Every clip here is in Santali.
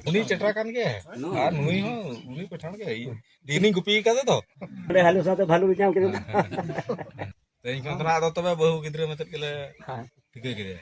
ᱩᱱᱤ ᱪᱮᱴᱨᱟ ᱠᱟᱱ ᱜᱮ ᱟᱨ ᱱᱩᱭ ᱦᱚᱸ ᱩᱱᱤ ᱯᱮᱴᱷᱟᱱ ᱜᱮ ᱫᱤᱱᱤᱧ ᱜᱩᱯᱤ ᱠᱟᱫᱮ ᱛᱚ ᱚᱸᱰᱮ ᱦᱟᱞᱩ ᱥᱟᱶᱛᱮ ᱵᱷᱟᱞᱩ ᱧᱟᱢ ᱠᱮᱫᱟ ᱛᱮᱦᱮᱧ ᱠᱷᱚᱱ ᱫᱚ ᱟᱫᱚ ᱛᱚᱵᱮ ᱵᱟᱹᱦᱩ ᱜᱤᱫᱽᱨᱟᱹ ᱢᱮᱛᱮᱫ ᱜᱮᱞᱮ ᱴᱷᱤᱠᱟᱹ ᱠᱮᱫᱮᱭᱟ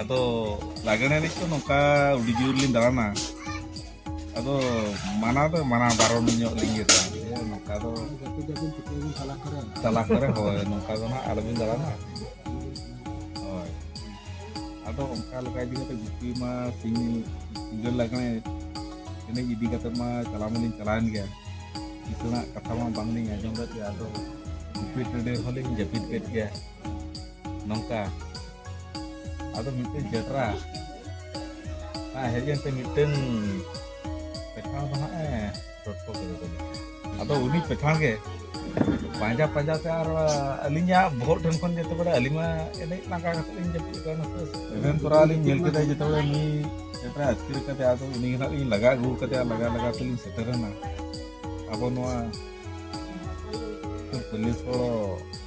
ᱟᱫᱚ ᱞᱟᱜᱽᱬᱮ ᱮᱱᱮᱡ ᱫᱚ ᱱᱚᱝᱠᱟ ᱟᱹᱰᱤ ᱡᱳᱨ ᱞᱤᱧ ᱫᱟᱬᱟᱱᱟ ᱟᱫᱚ ᱢᱟᱱᱟ ᱫᱚ ᱢᱟᱱᱟ ᱵᱟᱨᱚᱱ ᱧᱚᱜ ᱞᱤᱧ ᱤᱭᱟᱹ ᱫᱟᱬᱟᱱᱟ ᱱᱚᱝᱠᱟ ᱫᱚ ᱛᱟᱞᱟ ᱠᱚᱨᱮ ᱦᱳᱭ ᱱᱚᱝᱠᱟ ᱫᱚ ᱱᱟᱦᱟᱜ ᱟᱞᱚᱵᱤᱱ ᱫᱟᱬᱟᱱᱟ ᱦᱳᱭ ᱟᱫᱚ ᱚᱱᱠᱟ ᱞᱮᱠᱟ ᱤᱫᱤ ᱠᱟᱛᱮ ᱜᱩᱯᱤ ᱢᱟ ᱥᱤᱧ ᱧᱤᱫᱟᱹ ᱞᱟᱜᱽᱬᱮ ᱮᱱᱮᱡ ᱤᱫᱤ ᱠᱟᱛᱮ ᱢᱟ ᱪᱟᱞᱟᱣ ᱢᱟᱞᱤᱧ ᱪᱟᱞᱟᱣᱮᱱ ᱜᱮᱭᱟ ᱠᱤᱥᱟᱹᱬᱟᱜ ᱠᱟᱛᱷᱟ ᱢᱟ ᱵᱟᱝᱞᱤᱧ ᱟᱸᱡᱚᱢ ᱞᱮᱫ ᱜᱮᱭᱟ ᱟᱫᱚ ᱜᱩᱯᱤ ᱴᱟᱺᱰᱤ ᱨᱮᱦᱚᱸ ᱞᱤᱧ ᱡᱟᱹᱯᱤᱫ ᱠᱮᱫ ᱜᱮᱭᱟ ᱱᱚᱝᱠᱟ ᱟᱫᱚ ᱢᱤᱫᱴᱮᱱ ᱡᱮᱴᱨᱟ ᱦᱮᱡ ᱮᱱᱛᱮ ᱢᱤᱫᱴᱮᱱ ᱯᱮᱴᱷᱟᱲ ᱫᱚ ᱦᱟᱸᱜ ᱮ ᱴᱚᱴᱠᱚ ᱠᱮᱫᱟ ᱛᱟᱹᱞᱤᱧ ᱟᱫᱚ ᱩᱱᱤ ᱯᱮᱴᱷᱟᱲ ᱜᱮ ᱯᱟᱸᱡᱟ ᱯᱟᱸᱡᱟ ᱛᱮ ᱟᱨ ᱟᱹᱞᱤᱧᱟᱜ ᱵᱚᱦᱚᱜ ᱴᱷᱮᱱ ᱠᱷᱚᱱ ᱡᱮᱛᱮ ᱵᱮᱲᱟ ᱟᱹᱞᱤᱧ ᱢᱟ ᱮᱱᱮᱡ ᱞᱟᱸᱜᱟ ᱠᱟᱛᱮ ᱞᱤᱧ ᱡᱟᱹᱯᱤᱫ ᱠᱟᱱᱟ ᱮᱵᱷᱮᱱ ᱛᱚᱨᱟ ᱞᱤᱧ ᱧᱮᱞ ᱠᱮᱫᱟ ᱡᱮᱛᱮ ᱵᱮᱲᱟ ᱩᱱᱤ ᱡᱮᱴᱨᱟ ᱟᱹᱛᱠᱤᱨ ᱠᱟᱛᱮ ᱟᱫᱚ ᱩᱱᱤ ᱦᱟᱸᱜ ᱞᱤᱧ ᱞᱟᱜᱟ ᱟᱹᱜᱩ ᱠᱟᱫᱮᱭᱟ ᱞᱟᱜᱟ ᱞᱟᱜᱟ ᱛᱮᱞᱤᱧ ᱥᱮᱴᱮᱨᱮᱱᱟ ᱟᱵᱚ ᱱᱚᱣᱟ ᱯᱩᱞᱤᱥ ᱠᱚ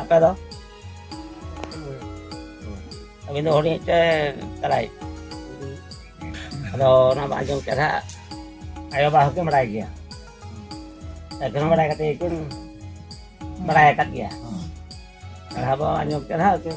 ᱟᱯᱮ ᱫᱚ ᱟᱹᱵᱤᱱ ᱫᱚ ᱦᱩᱰᱤᱧ ᱥᱮ ᱛᱟᱞᱟᱭ ᱟᱫᱚ ᱚᱱᱟ ᱵᱟᱝ ᱟᱸᱡᱚᱢ ᱠᱮᱫᱟ ᱟᱭᱳᱼᱵᱟᱵᱟ ᱦᱚᱸᱠᱤᱱ ᱵᱟᱲᱟᱭ ᱜᱮᱭᱟ ᱮᱠᱷᱚᱱ ᱵᱟᱲᱟᱭ ᱠᱟᱛᱮ ᱠᱤᱱ ᱵᱟᱲᱟᱭ ᱟᱠᱟᱫ ᱜᱮᱭᱟ ᱯᱟᱲᱦᱟᱣ ᱵᱟᱝ ᱟᱸᱡᱚᱢ ᱠᱮᱫᱟ ᱠᱤᱱ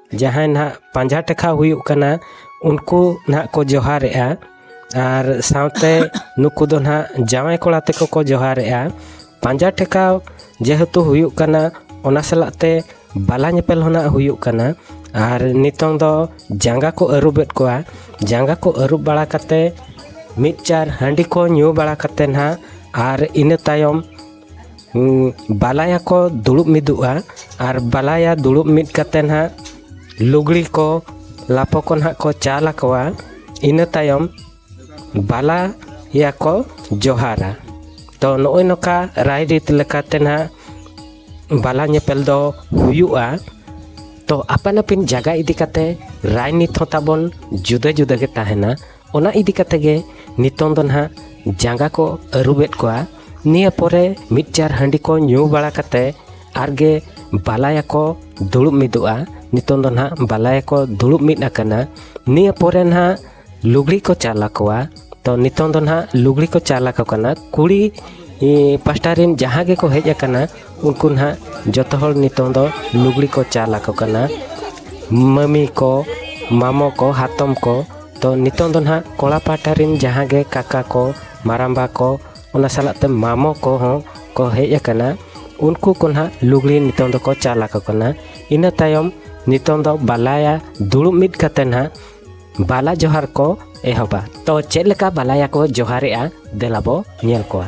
ᱡᱟᱦᱟᱸᱭ ᱱᱟᱦᱟᱜ ᱯᱟᱸᱡᱟ ᱴᱮᱠᱟᱣ ᱦᱩᱭᱩᱜ ᱠᱟᱱᱟ ᱩᱱᱠᱩ ᱱᱟᱦᱟᱜ ᱠᱚ ᱡᱚᱦᱟᱨᱮᱜᱼᱟ ᱟᱨ ᱥᱟᱶᱛᱮ ᱱᱩᱠᱩ ᱫᱚ ᱱᱟᱦᱟᱜ ᱡᱟᱶᱟᱭ ᱠᱚᱲᱟ ᱛᱮᱠᱚ ᱠᱚ ᱡᱚᱦᱟᱨᱮᱜᱼᱟ ᱯᱟᱸᱡᱟ ᱴᱮᱠᱟᱣ ᱡᱮᱦᱮᱛᱩ ᱦᱩᱭᱩᱜ ᱠᱟᱱᱟ ᱚᱱᱟ ᱥᱟᱞᱟᱜ ᱛᱮ ᱵᱟᱞᱟ ᱧᱮᱯᱮᱞ ᱦᱚᱸ ᱱᱟᱦᱟᱜ ᱦᱩᱭᱩᱜ ᱠᱟᱱᱟ ᱟᱨ ᱱᱤᱛᱚᱝ ᱫᱚ ᱡᱟᱸᱜᱟ ᱠᱚ ᱟᱹᱨᱩᱵᱮᱫ ᱠᱚᱣᱟ ᱡᱟᱸᱜᱟ ᱠᱚ ᱟᱹᱨᱩᱵ ᱵᱟᱲᱟ ᱠᱟᱛᱮᱫ ᱢᱤᱫ ᱪᱟᱨ ᱦᱟᱺᱰᱤ ᱠᱚ ᱧᱩ ᱵᱟᱲᱟ ᱠᱟᱛᱮᱫ ᱱᱟᱦᱟᱜ ᱟᱨ ᱤᱱᱟᱹ ᱛᱟᱭᱚᱢ ᱵᱟᱞᱟᱭᱟ ᱠᱚ ᱫᱩᱲᱩᱵ ᱢᱤᱫᱚᱜᱼᱟ ᱟᱨ ᱵᱟᱞᱟᱭᱟ ᱫᱩᱲᱩᱵ ᱢᱤᱫ ᱠᱟᱛᱮᱫ ᱦᱟᱸᱜ ᱞᱩᱜᱽᱲᱤ ᱠᱚ ᱞᱟᱯᱚ ᱠᱚ ᱦᱟᱸᱜ ᱠᱚ ᱪᱟᱞ ᱟᱠᱚᱣᱟ ᱤᱱᱟᱹ ᱛᱟᱭᱚᱢ ᱵᱟᱞᱟᱭᱟ ᱠᱚ ᱡᱚᱦᱟᱨᱟ ᱛᱚ ᱱᱚᱜᱼᱚᱭ ᱱᱚᱝᱠᱟ ᱨᱟᱭᱨᱤᱛ ᱞᱮᱠᱟᱛᱮ ᱦᱟᱸᱜ ᱵᱟᱞᱟ ᱧᱮᱯᱮᱞ ᱫᱚ ᱦᱩᱭᱩᱜᱼᱟ ᱛᱚ ᱟᱯᱟᱱ ᱟᱹᱯᱤᱱ ᱡᱟᱭᱜᱟ ᱤᱫᱤ ᱠᱟᱛᱮᱫ ᱨᱟᱭᱱᱤᱛ ᱦᱚᱸ ᱛᱟᱵᱚᱱ ᱡᱩᱫᱟᱹ ᱡᱩᱫᱟᱹ ᱜᱮ ᱛᱟᱦᱮᱱᱟ ᱚᱱᱟ ᱤᱫᱤ ᱠᱟᱛᱮ ᱜᱮ ᱱᱤᱛᱚᱝ ᱫᱚ ᱱᱟᱦᱟᱜ ᱡᱟᱸᱜᱟ ᱠᱚ ᱟᱹᱨᱩᱵᱮᱫ ᱠᱚᱣᱟ ᱱᱤᱭᱟᱹ ᱯᱚᱨᱮ ᱢᱤᱫ ᱪᱟᱨ ᱦᱟᱺᱰᱤ ᱠᱚ ᱧᱩ ᱵᱟᱲᱟ ᱠᱟᱛᱮ ᱟᱨᱜᱮ ᱵᱟᱞᱟᱭᱟ ᱠᱚ ᱫᱩᱲᱩᱵ ᱢᱤᱫᱚᱜᱼᱟ ᱱᱤᱛᱚᱝ ᱫᱚ ᱱᱟᱦᱟᱜ ᱵᱟᱞᱟᱭᱟ ᱠᱚ ᱫᱩᱲᱩᱵ ᱢᱤᱫ ᱟᱠᱟᱱᱟ ᱱᱤᱭᱟᱹ ᱯᱚᱨᱮ ᱱᱟᱦᱟᱜ ᱞᱩᱜᱽᱲᱤ ᱠᱚ ᱪᱟᱞ ᱟᱠᱚᱣᱟ ᱛᱚ ᱱᱤᱛᱚᱝ ᱫᱚ ᱱᱟᱦᱟᱜ ᱞᱩᱜᱽᱲᱤ ᱠᱚ ᱪᱟᱞ ᱟᱠᱚ ᱠᱟᱱᱟ ᱠᱩᱲᱤ ᱯᱟᱥᱴᱟ ᱨᱮᱱ ᱡᱟᱦᱟᱸ ᱜᱮᱠᱚ ᱦᱮᱡ ᱟᱠᱟᱱᱟ ᱩᱱᱠᱩ ᱱᱟᱦᱟᱜ ᱡᱚᱛᱚ ᱦᱚᱲ ᱱᱤᱛᱚᱝ ᱫᱚ ᱞᱩᱜᱽᱲᱤ ᱠᱚ ᱪᱟᱞ ᱟᱠᱚ ᱠᱟᱱᱟ ᱢᱟᱹᱢᱤ ᱠᱚ ᱢᱟᱢᱚ ᱠᱚ ᱦᱟᱛᱚᱢ ᱠᱚ ᱛᱚ ᱱᱤᱛᱚᱝ ᱫᱚ ᱱᱟᱦᱟᱜ ᱠᱚᱲᱟ ᱯᱟᱦᱴᱟ ᱨᱮᱱ ᱡᱟᱦᱟᱸ ᱜᱮ ᱠᱟᱠᱟ ᱠᱚ ᱢᱟᱨᱟᱢᱵᱟ ᱠᱚ ᱚᱱᱟ ᱥᱟᱞᱟᱜ ᱛᱮ ᱢᱟᱢᱚ ᱠᱚᱦᱚᱸ ᱠᱚ ᱦᱮᱡ ᱟᱠᱟᱱᱟ ᱩᱱᱠᱩ ᱠᱚ ᱱᱟᱦᱟᱜ ᱞᱩᱜᱽᱲᱤ ᱱᱤᱛᱚᱝ ᱫᱚᱠᱚ ᱪᱟᱞ ᱟᱠᱚ ᱠᱟᱱᱟ ᱤᱱᱟᱹ ᱛᱟᱭᱚᱢ ᱱᱤᱛᱚᱝ ᱫᱚ ᱵᱟᱞᱟᱭᱟ ᱫᱩᱲᱩᱵ ᱢᱤᱫ ᱠᱟᱛᱮ ᱱᱟᱦᱟᱜ ᱵᱟᱞᱟ ᱡᱚᱦᱟᱨ ᱠᱚ ᱮᱦᱚᱵᱟ ᱛᱚ ᱪᱮᱫ ᱞᱮᱠᱟ ᱵᱟᱞᱟᱭᱟ ᱠᱚ ᱡᱚᱦᱟᱨᱮᱜᱼᱟ ᱫᱮᱞᱟ ᱵᱚ ᱧᱮᱞ ᱠᱚᱣᱟ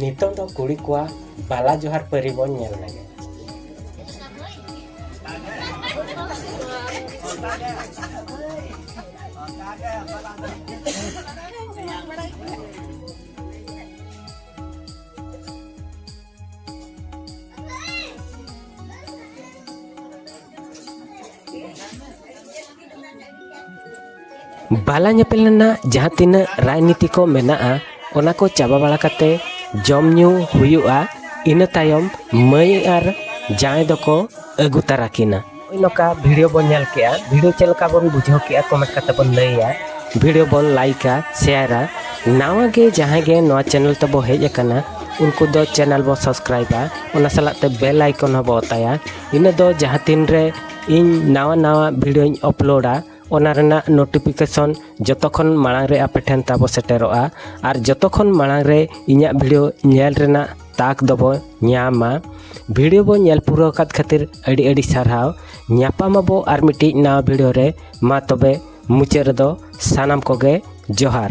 ᱱᱤᱛᱚᱝ ᱫᱚ ᱠᱩᱲᱤ ᱠᱚᱣᱟᱜ ᱵᱟᱞᱟ ᱡᱚᱦᱟᱨ ᱯᱟᱹᱨᱤ ᱵᱚᱱ ᱧᱮᱞ ᱞᱮᱜᱮ ᱵᱟᱞᱟ ᱧᱮᱯᱮᱞ ᱨᱮᱱᱟᱜ ᱡᱟᱦᱟᱸ ᱛᱤᱱᱟᱹᱜ ᱨᱟᱡᱽᱱᱤᱛᱤ ᱠᱚ ᱢᱮᱱᱟᱜᱼᱟ ᱚᱱᱟ ᱠᱚ ᱪᱟᱵᱟ ᱵᱟᱲᱟ ᱠᱟᱛᱮ ᱡᱚᱢ ᱧᱩ ᱦᱩᱭᱩᱜᱼᱟ ᱤᱱᱟᱹ ᱛᱟᱭᱚᱢ ᱢᱟᱹᱭ ᱟᱨ ᱡᱟᱶᱟᱭ ᱫᱚᱠᱚ ᱟᱹᱜᱩ ᱛᱟᱨᱟ ᱠᱤᱱᱟ ᱱᱚᱝᱠᱟ ᱵᱷᱤᱰᱤᱭᱳ ᱵᱚᱱ ᱧᱮᱞ ᱠᱮᱜᱼᱟ ᱵᱷᱤᱰᱤᱭᱳ ᱪᱮᱫ ᱞᱮᱠᱟ ᱵᱚᱱ ᱵᱩᱡᱷᱟᱹᱣ ᱠᱮᱜᱼᱟ ᱠᱚᱢᱮᱱᱴ ᱠᱟᱛᱮ ᱵᱚᱱ ᱞᱟᱹᱭᱟ ᱵᱷᱤᱰᱤᱭᱳ ᱵᱚᱱ ᱞᱟᱭᱤᱠᱟ ᱥᱮᱭᱟᱨᱟ ᱱᱟᱣᱟ ᱜᱮ ᱡᱟᱦᱟᱸᱭ ᱜᱮ ᱱᱚᱣᱟ ᱪᱮᱱᱮᱞ ᱛᱮᱵᱚ ᱦᱮᱡ ᱟᱠᱟᱱᱟ ᱩᱱᱠᱩ ᱫᱚ ᱪᱮᱱᱮᱞ ᱵᱚ ᱥᱟᱵᱥᱠᱨᱟᱭᱤᱵᱟ ᱚᱱᱟ ᱥᱟᱞᱟᱜ ᱛᱮ ᱵᱮᱞ ᱟᱭᱠᱚᱱ ᱦᱚᱸᱵᱚ ᱚᱛᱟᱭᱟ ᱤᱱᱟᱹ ᱫᱚ ᱡᱟᱦᱟᱸ ᱛᱤᱱ ᱨᱮ ᱤᱧ ᱱᱟᱣᱟ ᱱᱟᱣᱟ ᱵᱷᱤᱰᱤᱭᱳᱧ ᱟᱯᱞᱳᱰᱟ ᱚᱱᱟ ᱨᱮᱱᱟᱜ ᱱᱳᱴᱤᱯᱷᱤᱠᱮᱥᱚᱱ ᱡᱚᱛᱚ ᱠᱷᱚᱱ ᱢᱟᱲᱟᱝ ᱨᱮ ᱟᱯᱮ ᱴᱷᱮᱱ ᱛᱟᱵᱚ ᱥᱮᱴᱮᱨᱚᱜᱼᱟ ᱟᱨ ᱡᱚᱛᱚ ᱠᱷᱚᱱ ᱢᱟᱲᱟᱝ ᱨᱮ ᱤᱧᱟᱹᱜ ᱵᱷᱤᱰᱤᱭᱳ ᱧᱮᱞ ᱨᱮᱱᱟᱜ ᱛᱟᱠ ᱫᱚᱵᱚ ᱧᱟᱢᱟ ᱵᱷᱤᱰᱤᱭᱳ ᱵᱚ ᱧᱮᱞ ᱯᱩᱨᱟᱹᱣ ᱟᱠᱟᱫ ᱠᱷᱟᱹᱛᱤᱨ ᱟᱹᱰᱤ ᱟᱹᱰᱤ ᱥᱟᱨᱦᱟᱣ ᱧᱟᱯᱟᱢᱟᱵᱚ ᱟᱨ ᱢᱤᱫᱴᱤᱡ ᱱᱟᱣᱟ ᱵᱷᱤᱰᱤᱭᱳ ᱨᱮ ᱢᱟ ᱛᱚᱵᱮ ᱢᱩᱪᱟᱹᱫ ᱨᱮᱫᱚ ᱥᱟᱱᱟᱢ ᱠᱚᱜᱮ ᱡᱚᱦᱟᱨ